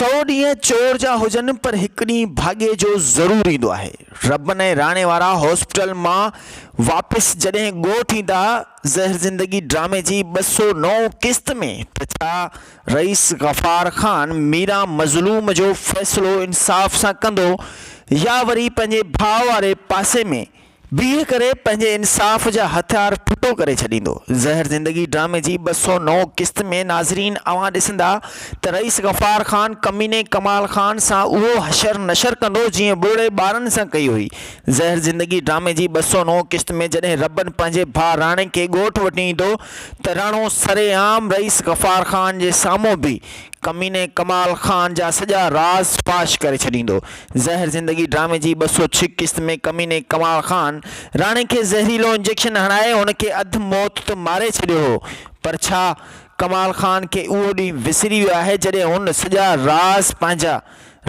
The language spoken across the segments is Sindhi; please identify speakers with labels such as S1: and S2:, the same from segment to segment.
S1: سؤ ڏينهن چور جا هجن پر هڪ ڏينهن ڀاڳي جو ضرور ايندو آهي. ربن ۽ راڻي وارا هاسپيٽل مان واپس جڏهن ڳوٺ ايندا زهر زندگي ڊرامي جي ٻه سؤ نو قسط ۾ ته ڇا رئيس غفار خان ميرا مظلوم جو فيصلو انصاف سان ڪندو يا وري پنهنجي ڀاء واري پاسي ۾ بيهه ڪري پنهنجي انصاف جا هٿيار ٺٽو ڪري ڇڏيندو. زهر زندگي ڊرامي جي ٻه سؤ نو قسط ۾ ناظرين اوهان ڏسندا ته رئيس غفار خان ڪميني ڪمال خان سان اهو حشر نشر ڪندو جيئن ٻوڙي ٻارن سان ڪئي هئي زهر زندگي ڊرامي جي ٻه سؤ نو قسط ۾ جڏهن ربن پنهنجي ڀاء راڻي کي ڳوٺ وٺي ايندو ته راڻو سري عام رئيس غفار خان جي سامهون بيهي ڪميني ڪمال خان جا سڄا راز فاش ڪري ڇڏيندو زهر زندگي ڊرامي جي ٻه سؤ ڇهه قسط ۾ ڪميني ڪمال خان راڻي کي زهريلو انجيڪشن هڻائي هن کي اڌ موت ته ماري ڇڏيو هو پر ڇا ڪمال خان کي اهو ڏينهن وسري ويو آهي جڏهن هن سڄا راز پنهنجا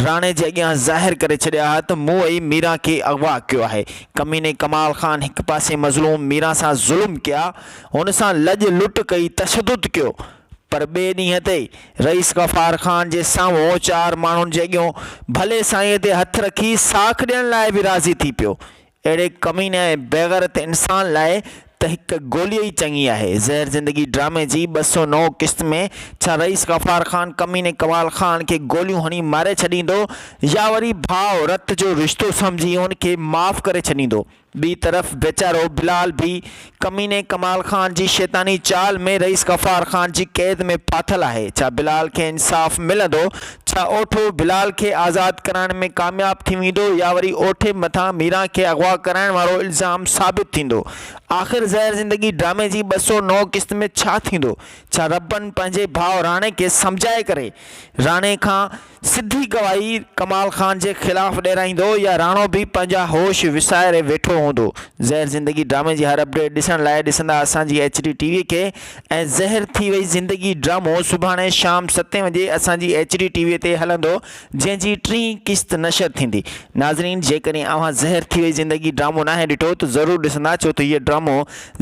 S1: راڻي جي اڳيان ظاهر ڪري ڇڏيا ها ته مون ئي ميران کي اغوا ڪيو آهي ڪميني ڪمال خان هڪ پاسي مظلوم ميران سان ظلم ڪيا هن سان لڄ لٽ ڪئي تشدد ڪيو پر ٻئي ڏينهن تي رئيس غفار خان جي سامهون چار ماڻهن جي اڳيون ڀلي سائينء تي هٿ رکي ساک ڏيڻ لاء به راضي ٿي پيو. اهڙي ڪميني ۽ بيغيرت انسان لاء ته هڪ گولي ئي چڱي آهي. زهر زندگي ڊرامي جي ٻه سؤ نو قسط ۾ ڇا رئيس غفار خان ڪميني ڪمال خان کي گوليون هڻي ماري ڇڏيندو يا وري ڀاء رت جو رشتو سمجهي ان کي معاف ڪري ڇڏيندو؟ ٻي طرف ويچارو بلال به ڪميني ڪمال خان جي شيطاني چال ۾ رئيس غفار خان جي قيد ۾ ڦاٿل آهي. ڇا بلال کي انصاف ملندو؟ ڇا اوٺو بلال کي آزاد ڪرائڻ ۾ ڪامياب ٿي ويندو يا وري اوٺي مٿان ميران کي اغوا ڪرائڻ وارو الزام ثابت ٿيندو؟ آخر زهر زندگي ڊرامي جي ٻه سؤ نو قسط ۾ ڇا ٿيندو؟ ڇا ربن پنهنجي ڀاء راڻي کي سمجهائي ڪري راڻي کان سڌي گواهي ڪمال خان جي خلاف ڏيرائيندو يا راڻو به پنهنجا هوش وساري ويٺو هوندو. زهر زندگي ڊرامي جي هر اپڊيٽ ڏسڻ لاء ڏسندا اسان جي ايڇ ڊي ٽي وي کي ۽ زهر ٿي وئي زندگي ڊرامو سڀاڻي شام ستين وڄي اسان جي ايڇ ڊي ٽي وي تي هلندو جنهن جي ٽين قسط نشر ٿيندي ناظرين جيڪڏهن اوهان زهر ٿي وئي زندگي ڊرامو ناهي ڏٺو ته ضرور ڏسندا ڇو ته هيء ڊرامو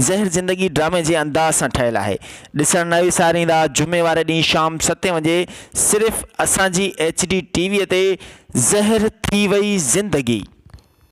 S1: زهر زندگي ڊرامي جي انداز سان ٺهيل آهي ڏسڻ نه وساريندا جمعي واري ڏينهن شام ستين وڄي صرف اسان جي ايڇ ڊي ٽي وي تي زهر ٿي وئي زندگي.